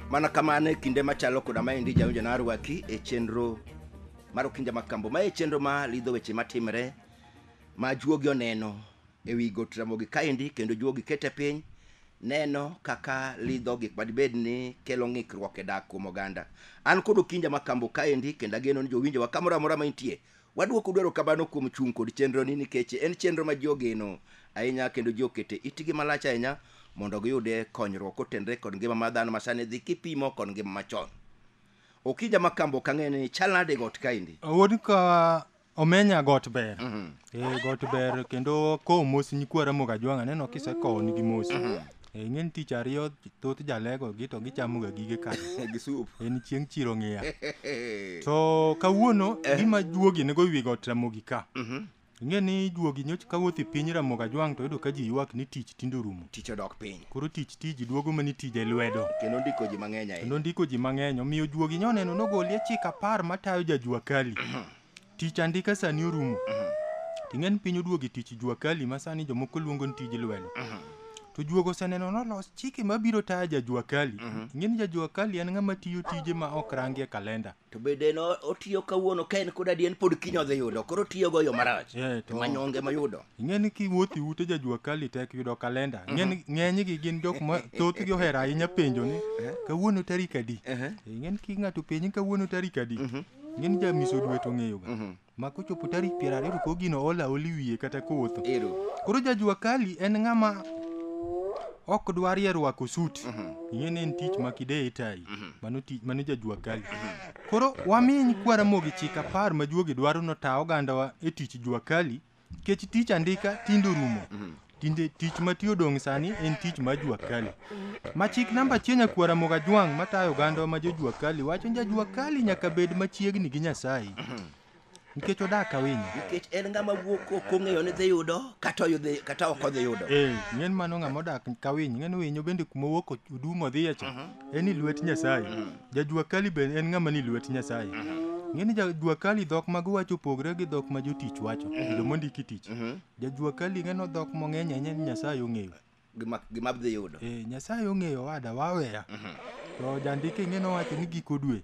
mana kamano e kinde machalo koda maendi jawinjo na arwaki e chenro mar okinja makambo ma e chenro ma lidho weche matimre ma juogi oneno e wi got Ramogi kaendi kendo juogi kete piny neno kaka lidho gik madibed ni kelo ng'ikruok e dak kuom oganda. An kod Okinja Makambo kaendi kendo ageno ni jowinjowa kamoro amora ma intie wadwoko dwaro kamano kuom chung' kod chenroni nikech en chenro ma ji ogeno ahinya kendo ji okete itgi malach ahinya mondo giyude konyruok kotenre kod ngima mar dhano masani dhi kipimo kod ngima machon. Okinja Makambo ok ang'e ni chal nade got kaendi? Awuon ka Omenya got ber. Mhm. Eh, got ber kendo kowo mos nyikwa Ramogi Ajwang' aneno kisekowo nigi mos. Mhm. Eh, ing'e ni tich ariyo thoth jalego gi to gichamoga gige kar. Gi soup. En chieng' chiro ng'iya. To kawuono gima juogi nego wi got Ramogi ka. Mhm. Ing'e ni juogi nyoch kawuoth e piny Ramogi Ajwang' to yudo ka ji ywak ni tich tinde orumo. Tich odok piny. Koro tich tiji duogo mani tije lwedo. Kendo ndiko ji mang'eny ahinya. Kendo ndiko ji mang'eny omiyo juogi nyoneno nogoli e chik apar matayo ja Jua Kali. Tich andika sani orumo. Ting'e ni piny oduogo e tich jua kali ma sani jomoko luongo ni tij lwedo. To juogo oseneno nolos chike mabiro tayo ja jua kali. Ing'e ni ja jua kali en ng'ama tiyo tije ma ok rangi e kalenda. to bende en o- otiyo kawuono ka en kod adi en pod kiny odhi yudo koro otiyogo yo marach Eh, to- manyonge moyudo Ing'e ni kiwuotho e ute ja jua kali tek yudo kalenda. Ing'e ni ng'enygi gin jok ma thothgi ohero ahinya penjo ni kawuono tarik adi. Ing'e ni ki ng'ato penji kawuono tarik adi. Ng'eni ja miso dwe to ng'eyoga. Mhm. Ma kochopo tarik piero ariyo to koro gino ola oli wiye kata kotho. Ero. Koro ja jua kali en ng'ama ok dwarie rwako sut. Ing'e ni en tich ma kideye tai. Mano tich mano ja jua kali. Koro waminy kwara mogi chik apar ma juogi dwaro no ta ogandawa e tich jua kali. Kech tich andika tinde orumo. Tinde tich mati odong' sani en tich ma jua kali. Ma chik namba achiel nyakuo Ramogi Ajwang' matayo oganda ma jo jua kali wacho ni ja jua kali nyaka bed machiegni gi Nyasaye. Nikech odak awinyo. Nikech en ng'ama wuok ok ong'eyo ni dhi yudo kata oyudhi kata ok odhi yudo. Eh, ng'en mano ng'ama odak kawiny, ng'en winyo bende kuma owuok odumo odhiye cha. En i lwet Nyasaye. Jajuakali be en ng'ama ni lwet Nyasaye. Ng'e ni jajuakali dhok mag wacho opogre gi dhok ma jotich wacho, kendo mondiki tich. Jajuakali ng'e no dhok mong'eny ahinya ni Nyasaye ong'eyo. Gima gima abdhi yudo. Eh, Nyasaye ong'eyo wada waweya. To jandike ng'e nowacho ni giko dwe.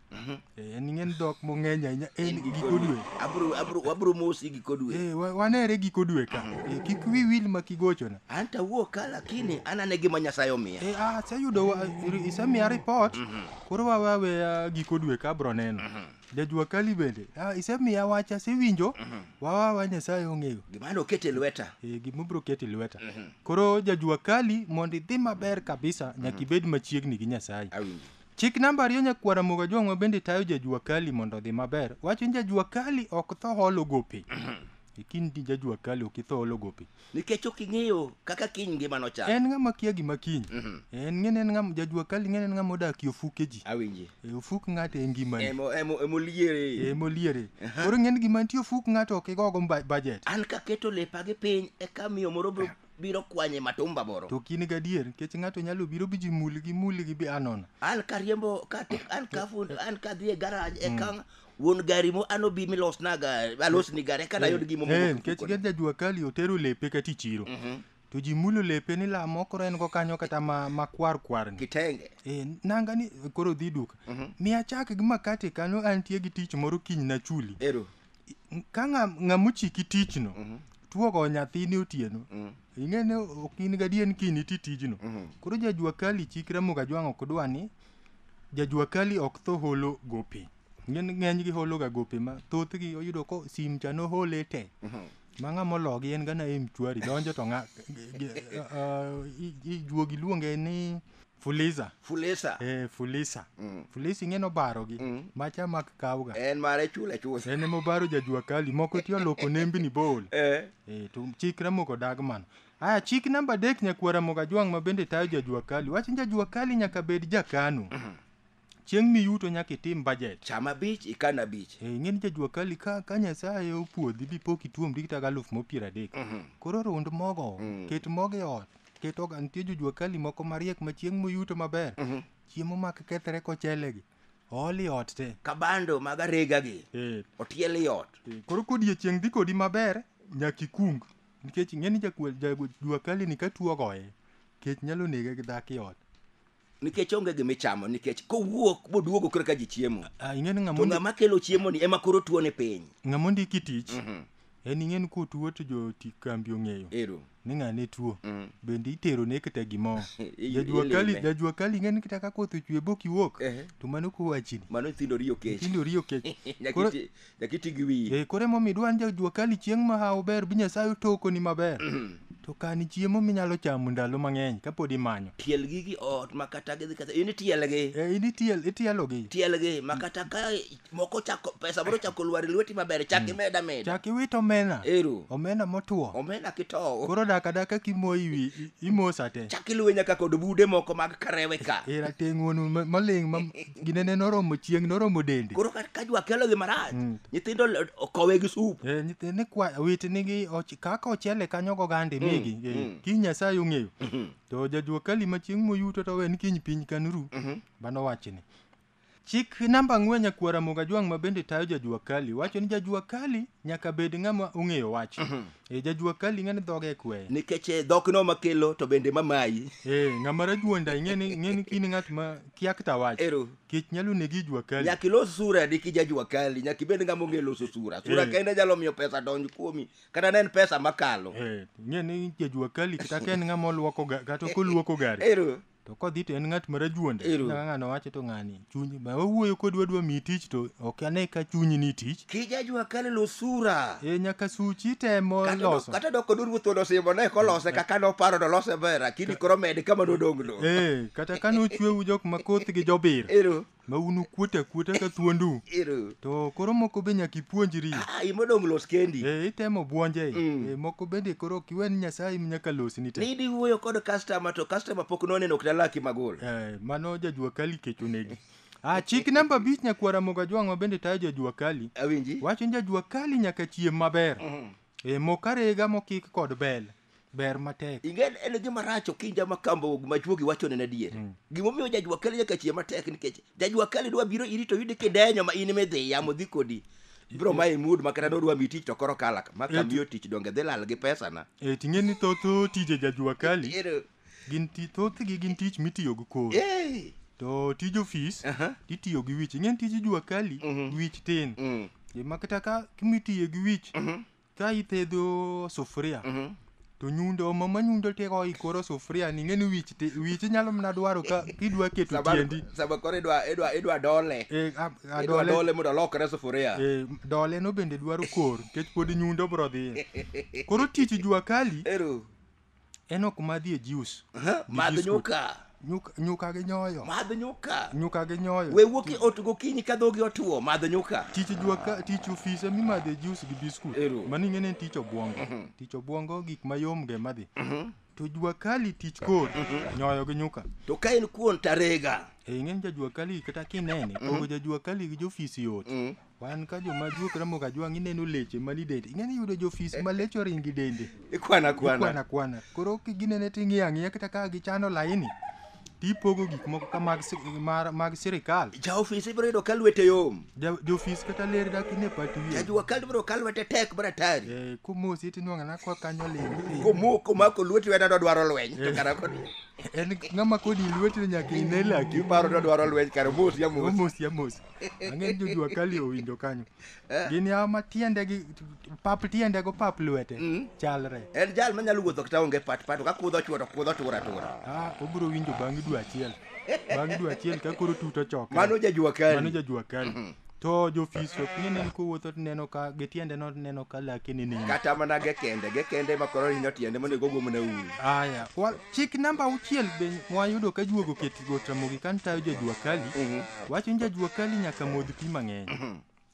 Eh, en ng'e ni dhok mong'eny ahinya en giko dwe. Abro abro wabro mosi giko dwe. Eh, wa- wanere giko dwe ka. Eh, kik wi wil ma kigochona. an to awuok ka lakini an ane gima nyasaye omiya Eh, ah, aseyudo wa- iri- isemiya ripot koro wawe aweya giko dwe ka abro neno jajua kali bende ah, isemiya wach asewinjo wawe aweya nyasaye ong'eyo gima an okete lweta Eh, gima obro keto e lweta koro jajua kali mondo idhi maber kabisa nyaka ibed machiegni gi nyasaye awinji chik namba ariyo nyakwara moga jong'wa bende tayo jajua kali mondo odhi maber wacho ni jajua kali ok tho holo gope ikindi jajua kali ok itho holo gope nikech ok ing'eyo kaka kiny ngima nochal en ng'ama kia gima kiny Mhm. en ng'ene en ng'ama jajua kali ng'ene en ng'ama odak e ofuke ji awinji e ofuk ng'ato e ngimani Emo- emo- emoliere emoliere koro ng'en gima nitie ofuk ng'ato ok igogo mba- budget an kaketo lepa gi piny eka miyo moro biro- biro kwanye matumba moro to kine gadier nikech ng'ato nyalo biro bi ji muli gi muli gi bi anona an kariembo ka an ka fund an kadhi e garaj eka wuon gari mo ano bi milosnaga alosni gari eka nayud gimo Eh, nikech gin jajua kali otero lepe kata ichiro Mhm. to ji mulo lepe ni la mokoro en go kanyo kata ma, ma kwar kwar ni kitenge eh, nanga ni koro dhi duka mi achak gi makate kanyo antie gi tich moro kiny na chuli ero ka ng'a- ng'amochiki tichno tuogo nyathini otieno ing'e ni ok in gadier ni kiny iti tijno koro jajua kali chik ramoga jwang' ok dwa ni jajua kali ok tho holo gope Ng'en- ng'enygi hologa gope ma thothgi oyudo ko sim cha nohole te ma ng'a mologi en gana e mchwari donjo to ng'a ge- ge- ah, i- i- juogi luonge ni Fuliza. Fuliza. Eh, Fuliza. Mm. Fuliza ing'e nobarogi. Mm. Macha mak kawga. En mare chula chula. En emo baro jajua kali moko tiyo loko nembi ni bol. Eh. Eh, to chik ramo ko dag mano. Aya, chik namba dek nyakwara moga juang' ma bende tayo jajua kali. Wachin jajua kali nyaka bed jakano. Mm -hmm. chieng' miyuto nyaka itim budget cham abich ikan abich Eh, ing'eni jajua kali ka, ka nyasaye opuodhi bipok ituomri kata galuf mopiero adek koro rund mogo ket mogo e ot ket oga nitie jojua kali moko mariek ma chieng' moyuto maber chiemo mak kethre kochelegi ooli ot te kabando mag arega gi Eh, otiel i ot eh, koro kodiechieng' dhi kodi maber nyaka ikung nikech ing'eni jakue- jajua kali ni ka tuo ogoye kech nyalo nege gi dhako i ot nikech onge gima ichamo nikech kowuok boduogo koro ka ji chiemo Ah, ing'e ni to ng'ama ng'ama kelo chiemo ni ema koro tuo ni piny ng'ama ondiki tich Mhm. en ing'e ni kotuo to joti kambi ong'eyo ero ni ng'ane tuo Mm. bende itero ne kata gimo I- jajua ilime. kali jajua kali ing'e ni kata ka koth ochwe bok iwuok Ehe. to mano kowachini mano nyithindo riyo kech nyithindo riyo kech Nyaka Koro iti- Nyaka iti gi wiyi. Eh, koro emomiyo idwa ni jajuakali chieng' ma hawo ber bi Nyasaye otokoni maber. To kan chiemo minyalo chamo ndalo mang'eny kapod imanyo. Tiel gigi ot ma kata gidhi kata in itielgi. Eh, in itiel, itielogi. Tielgi ma kata ka moko chako pesa moro chako lwar e lweti maber chak imeda meda. Chak iwit omena. Ero. Omena motwo. Omena kitowo. Koro dak adaka kimoyo iwi i- imosa te. Chak iluwe nyaka kod bude moko mag karewe ka. Eh, rateng' wuonu ma- maling' ma gine ne noromo chieng' noromo dende koro ka- ka jwa kelogi marach Mm. nyithindo le- okowe gi sup Eh, nyithi- ni kwa wit nigi och- kaka ochele kanyo gogande migi eh, mm. kiny nyasaye ong'eyo to jajuokali ma chieng' moyuto to wen kiny piny kanuru bano wachni chik namba ang'wen nyakwara mogajwang' ma bende tayo jajuakali wacho ni jajuakali nyaka bed ng'ama ong'eyo wach e jajuok kali ing'e ni dhoge kwe nikech eh, dhok no makelo to bende mamayi eh ng'ama rajuonda ing'e ni ing'e ni kini ng'at ma kia kta wach ero kech nyalo negi jua kali nyaka ilos sura di kija jua kali nyaka ibed ng'ama ong'e loso sura sura Eh. kende nyalo miyo pesa donj kuomi kata ne en pesa makalo eh ing'e ni jajua kali kata ka en ng'ama olwoko ga- kata koluoko gari ero to kodhi to en ng'at marajuonde Ero. kaka ng'ano wacho to ng'ani chuny ma wawuoyo kod wadwa miyi tich to ok ane ka chunyi ni tich kijajwa kale losura e nyaka suchi temo Kata dok- loso kata dok kod ruoth odosimo ne kolose kaka noparo to lose ber lakini koro med kama nodong'no e kata ka nochwewu jok ma koth gi jobir ero ma un ukuota kuota ka thuondu Ero. to koro moko be nyaka ipuonjri Ah, in modong' los kendi. e, itemo buonje Mm. e, moko bende koro ok iwe ni nyasaye nyaka losni te Nidi wuoyo kod customer to customer pok noneno ok nalaki magol. Eh, mano jajua kali kech onegi ah, chik namba abich nyakwara moga jwang'wa bende tayo jajua kali Awinji. wacho ni jajua kali nyaka chiem maber Mhm. E mok arega mokik kod bel ber matek. Ingen en gima rach okinja ma kambo ma juogi wacho ne adier. Mm. Gima omiyo jajwa kali nyaka chieng' matek nikech jajwa kali dwa biro iri to yudi kidenyo ma in midhi yamo dhi kodi. Bro ma imud ma kata dodwa mi tich to koro kalak ma kamiyo tich donge dhi lal gi pesa na. E ting'e ni thoth tije jajwa kali. gin ti- thothgi gin tich mitiyo gi kor Eh, to tij ofis aha. itiyo gi wich ing'en tij jua kali wich tin Mm, gima kata ka kimitiyo gi wich mhm, ka ithedho sufuria mhm. to nyundo mama nyundo teko ikoro sufuria ni ng'eni wich ti- wich inyalo mana dwaro ka kidwa keto Saba- tiendi saba koro idwa- idwa- idwa dole Eh, a- a idwa dole- dole mondo olokre sufuria eh, dole no bende dwaro kor nikech pod nyundo bro dhiye koro tich jua kali ero Enok madhi e juice. Aha, gi madh biscuit. nyuka Nyuka, nyuka gi nyoyo. madh nyuka Nyuka gi nyoyo. we wuok e ot gokinyi ka dhogi otuo madh nyuka Tich jua ka tich ofise mimadhe e juice gi biscuit. Ero. Mani ng'ene en tich obwongo. Tich obwongo gik mayom ge madhi. To jua kali tich kor nyoyo gi nyuka. to ka en kuon tarega E ng'en ja jua kali kata kinene pogo ja jua kali gi jofisi yot. Wan ka joma juok Ramogi Ajwang' ineno leche mani dende. Ing'eni yudo jofis ma leche oringi dende. Ikwana Ikwana kwana. kwana. Koro kiginene ting'iyo ang'iya kata ka gichano laini tipogo gik moko ka mag, si- mar- mag sirikal. Ja ofis ibiro yudo ka lwete yom. Ja- Jofis kata ler dak ine pat wiye. Jajua kal ibiro ka lwete tek maratari. Eh, Komosi tinwang'o na kwa kanyo ling'. Komoko mako lweti wena dodwaro lweny. To kara kod En ng'ama kodi lwetino nyaka ine laki. iparo dodwaro lweny kar mos ya mos. Omosi amosi. ang'e jo jua kali owinjo kanyo eh. gin yawa ma tiende gi pap tiende go pap lwete mm. chalre en jal ma nyalo wuotho kata onge pat pat ka kudho chuo to kudho tura tura ah obiro winjo bang' dwe achiel bang' dwe achiel ka koro tuto choke mano ja jua kali mano ja jua kali mm-hmm. to jofis ok ni nen kowuotho tineno ka gi tiende no tineno ka laki ni nini kata mana ge kende ge kende ma koro hinyo tiende monego ogomna uru aya chik namba auchiel be mwayudo ka juogo ket Go Ramogi ka nitayo jajua kali, Mhm. wacho ni jajua kali nyaka modh pi mang'eny.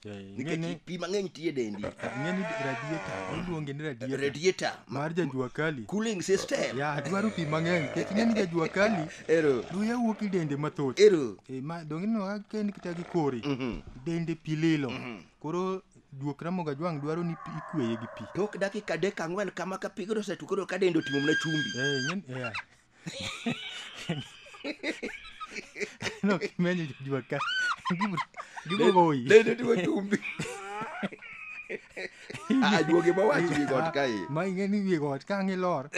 Eh, nikech ing'eni- pi mang'eny tiye dendi ing'eni radiator, iluonge ni radiator radiator ma- mar jajua kali. cooling system Ya, dwaro pi mang'eny, nikech ing'eni jajua kali, ero luya wuok i dende mathoth. ero Eh, ma donge ineno ka ken kata gi kore, Mhm. dende pi lilo. Koro juok Ramogi Ajwang' dwaro ni pi- ikweye gi pi. tok dakika adek ang'wen kama ka pigno osetu koro ka dende otimo mana chumbi Eh, ing'eni- eh, no kimenyo jajua ka Gibro- gibro goyi Dede tiwo chumbi. Ah, juoge ma wachi gi got kae. ma ing'e ni wiye got ka ang' ilor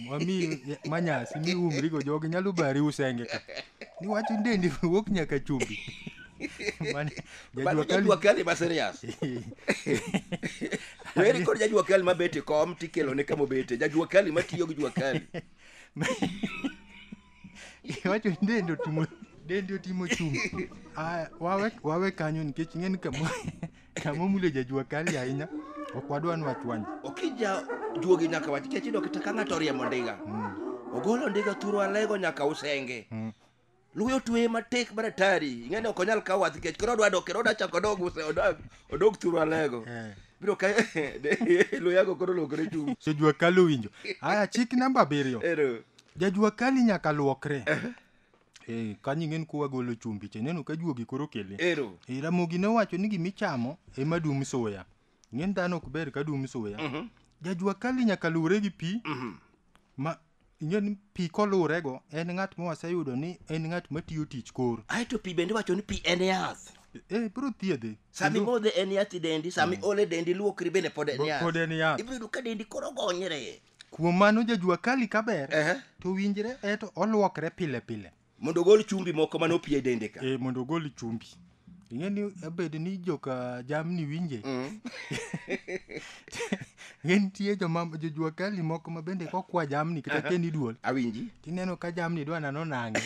mami manyasi miumrigo jogi nyalo bari usenge ka niwacho ni dendi wuok nyaka chumbi Mane, jajua Mano kali- jajua kali ma serious. Weri kod jajua kali ma bete kom tikelo ne kama obete. Jajua kali ma tiyo gi jua kali. iwacho ni dende otimo dende otimo chung aya wawe wawe kanyo nikech ing'e ni kama kama omulo jajua kali ahinya ok wadwa ni wachwany okija juogi nyaka wach kech idok ta ka ng'ato oriemo ndiga ogolo ndiga thuro alego nyaka usenge Luya otweye matek mar atari. Ing'e ni ok onyal kawo wath nikech koro odwa dok kendo odwa chako odog use odog odog thuru alego. Eh. Biro ka luya go koro lokore chum. Jajua kali owinjo. Aya chik namba abiriyo. Ero. Jajua kali nyaka luokre. Eh. Eh, kanyo ing'en kuwa golo chumbi che neno ka juogi koro kele. Ero. Eh, Ramogi ne owacho ni gimichamo ema dum suya. Ing'en dhano ok ber ka dum suya. Mhm. Jajua kali nyaka luwre gi pi Mhm. ma ing'e ni pi koluwrego en ng'at ma waseyudo ni en ng'at matiyo tich kor ae to pi bende iwacho ni pi en yath e biro thiedhe sama imodhe en yath i dendi sama iole dendi luokri bende pod en yath pod en yath ibiro yudo ka dendi koro gonyre kuom mano jajuakali kaber Ehe. to winjre eto olwokre pile pile mondo ogol chumbi moko mane opie dende ka e, mondo ogol chumbi ing'e ni abed ni joka jamni winje mm. ing'e nitie jojua kali moko ma bende kokwa jamni kata keni duol awinji tineno ka jamni dwa nano nang'e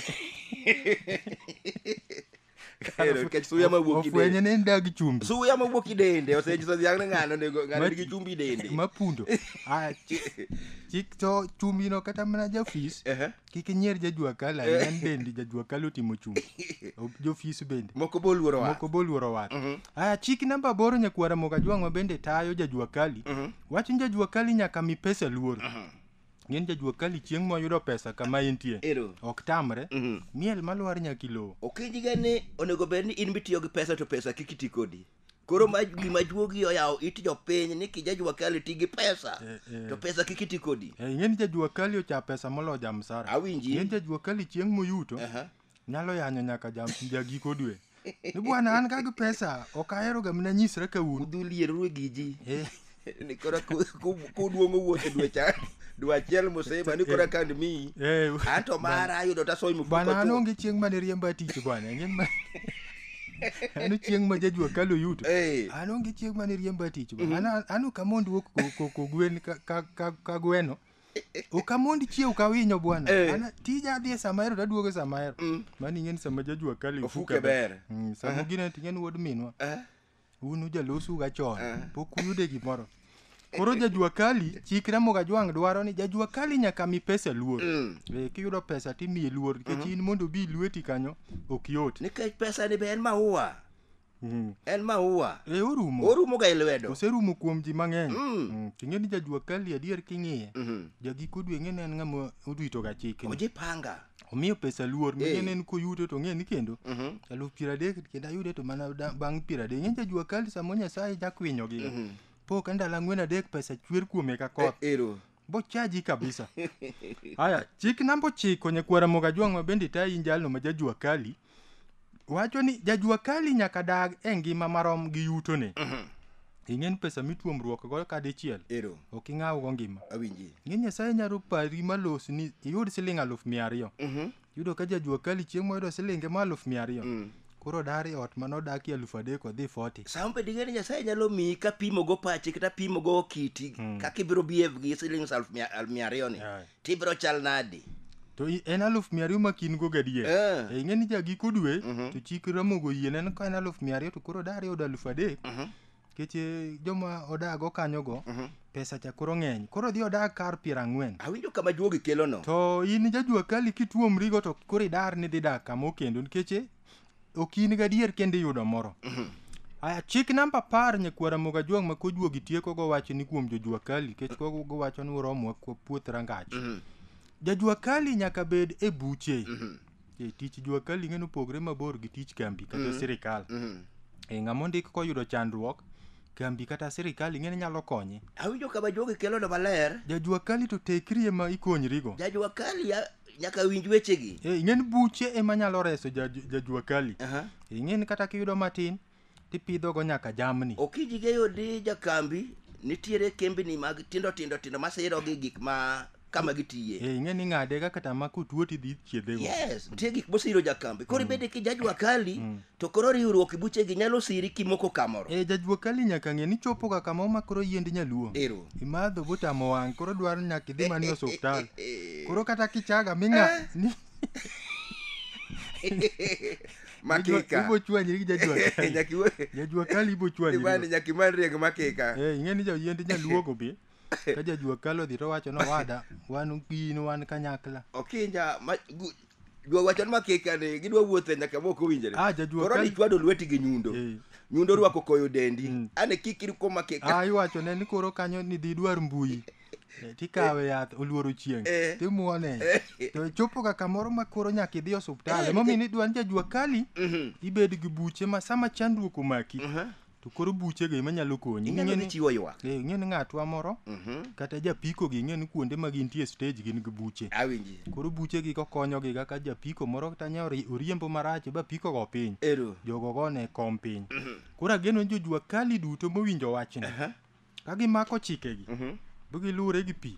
Ero, nikech suya ma wuok ofwenye kidende ni en dag chumbi suya ma wuok kidende osenyiso dhiang' ni ng'ano onego- ng'ano Ma- nigi chumbi dende mapundo Ah, chi- chik to chumbino kata mana jafis Ehe. kik inyier jajua kala en bende jajua kala otimo chumbi O- jofis bende moko be oluoro wa moko boluoro wat aya chik namba aboro nyakwara mokajwang'wa bende tayo jajua kali wach ni jajua kali nyaka mi pesa luor Ng'eny jajuok kali chieng' moyudo pesa kama intie. Ero. Ok tamre. Mhm. Miel malwar nyaka ilowo. Okinyiga ni onego bed ni in mitiyo gi pesa to pesa kik iti kodi. Koro ma gima juogi oyawo it jopiny ni kijajua kali ti gi pesa Eh, eh. to pesa kik iti kodi. Eh, Ng'eny jajuok kali ocha pesa molo jamsara. Awinji. Ng'eny jajuok kali chieng' moyuto. Aha. nyalo yanyo nyaka jam ja giko dwe ni bwana an ka gi pesa ok ahero ga mina nyisra ka un udhu lierru gi ji Eh, ni kora ku- ku- kuduong'o wuoth dwe cha dwe achiel moseba ni kora kan mi eh, an to mara ayudo tasoy mfuko bwana an chuth. onge chieng' mane riemba tich bwana ing'e ma an chieng' ma jajua kalo yuto Eh, an onge chieng' mane riemba tich bwana An- an ok amond wuok ko- ko- ko gwen ka- ka- ka- ka gweno ok amond chiew ka winyo bwana Eh. An tija adhi e sama ahero to aduogo e sama ahero Mm. mano ing'e ni sama jajua kali Ofuke ber. Mm, sama gine to ing'e ni wuod minwa Eh, un ujalosu ga chon Eh. pok uyude gimoro koro jajua kali chikre moga jwang' dwaro ni jajua kali nyaka mi pesa luor mm. Eh, kiyudo pesa timiye luor nikech in mondo obi lweti kanyo ok yot Nikech pesa ni be en maua. Mm. En maua. Eh, orumo. Orumo ga e lwedo. Oserumo kuom ji mang'eny. Mm. Mm. King'e ni jajua kali adier king'iye. Mm -hmm. Jagiko dwe ng'e ne en ng'ama orito ga chik. Oje panga. Omiyo pesa luor. Hey. Ng'e ne en koyudo to ng'e ni kendo. Mm -hmm. Aluf piero adek kendo ayude to mana bang' piero adek. Ng'e jajua kali samo Nyasaye jakwinyo gi. Mm -hmm. Po kanda lang'wen adek pesa chwer kuome ka koth. E, ero. bochaji kabisa haya chik namba ochiko nyakwara mogajwang' ma bende itayi in jalno ma jajua kali wacho ni jajua kali nyaka dag e ngima marom gi yutone ing'e ni pesa mituomruok go ka dichiel ero ok ing'awgo ngima awinji ing'e nyasaye nyalo pari malosni iyud siling' aluf mia ariyo yudo ka jajua kali chieng' moyudo silinge ma aluf mia ariyo mm. koro dari ot ma nodakie aluf adek odhi foti sama bed ing'eyo ni nyasaye nyalo miyi ka pimo go pachi kata pimo go kiti mm. kaka ibiro behave gi siling aluf mia ariyo ni to ibiro chal nadi to en aluf mia ariyo makin go gadier yeah. e, ing'e ni jagiko dwe mm -hmm. to chik ramogo yiene ka en aluf mia ariyo to koro dari yudo aluf adek mm -hmm Nikech eh, joma odago kanyogo, Mhm. pesa cha koro ng'eny. Koro dhi odag kar piero ang'wen. Awinjo kama juogi kelono. To in jajua kali kituomrigo to koro idar ni dhi dak kama okendo nikech eh, ok in gadier kendo iyudo moro. Aya, chik namba apar nyakwara moga juang' ma kojuogi tieko gowacho ni kuom jojua kali nikech kogo gowacho ni uromwa kuo- puoth rangach. Jajua kali nyaka bed e buche. E, tich jua kali ing'e ni opogore mabor gi tich kambi kata sirikal e, ng'ama ondik koyudo chandruok kambi kata sirikal ing'e ni nyalo konye awinjo kama jogi kelono maler jajua kali to tekri ema ikonyrigo jajua kali ya- nyaka winj wechegi e, ing'e ni buche ema nyalo reso jaj- jajua kali Aha. ing'e ni kata kiyudo matin tipidhogo nyaka jamni. Okiji geyo di jakambi nitiere kembni mag tindo tindo tindo masiro gi gik ma kama gitiye. Eh, ing'e ni ng'ade ga kata ma kutuo tidhi chiedhego. Yes, nitie gik mosiro jakambi. Koro ibede ki jajwa kali to koro riwruok e buchegi nyalo siri kimoko kamoro. Eh, jajwa kali nyaka ng'e ni chopoga kama omakoro yiend nyaluo. Ero. Imadho botamo wang' koro dwaro nyaka idhi mana e osuptal. Koro kata kichaga ming'a ni makika Ibo chwanyi gi jajua kali. Nyakiwe- Jajua kali ibo chwanyi. Ibani riyo. nyakiman riek makika Eh, ing'e ni jayiend nyaluo go be. Ka jajua kali odhi to wacho no wada, wan gi in wan kanyakla. okinja ma- gu- jwa wachon makika ni gidwa wuothe nyaka mok owinjore Ah, jajua koro kali. nichwado lweti gi nyundo Eh. nyundo orwako koyo dendi Mm. ane kik irko makika Ah, iwacho ne ni koro kanyo ni didwar mbui. Eh, tikawe yath oluoro chieng' Eh. timuone to chopo ka kamoro ma koro nyaka idhi osuptal emomiyo ni dwan jajua kali Mhm. ibed gi buche ma sama chandruok omaki Mhm. to koro buchego ema nyalo konyi inyalo Ing'e dhi ni- chiwo ywak eh, ing'e ni ng'atwa moro Mhm. kata japiko gi ing'e ni kuonde ma gintie stage gin gi buche awinji koro buchegi kokonyogi kaka japiko moro kata nya ori- oriembo marach ba pikogo piny ero jogo gone kom piny koro ageno ni jojua kali duto mowinjo wachni Ka gimako chikegi, Mhm. be giluwore gi pi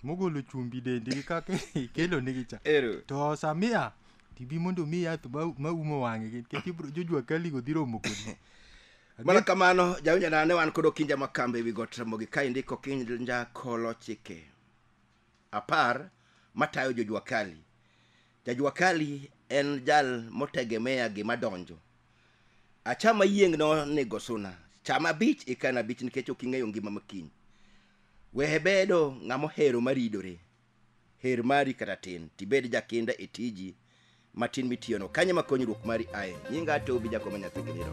mogolo chumbi dendi gi kaka ikelo nigi cha. Ero. To samia tibi mondo mi yath ma- ma umo wang'e gi nikech ibro jojwa kali go dhi romo kodi. Mana kamano, jawinja ne wan kod Okinja Makamba ewi got Ramogi ka indiko Okinja Kolo Chike. apar matayo jojua kali. Jajua kali en jal motegemea gima donjo. Achama yieng' nonego suna. Cham abich ikan abich nikech ok ing'eyo ngima ma kiny. Wehe bedo ng'ama ohero maridore. Her mari kata tin, tibed jakinda e tiji matin mitiyono kanyo ma konyruok mari aye nyinga to ubi jakoma nyathi giniro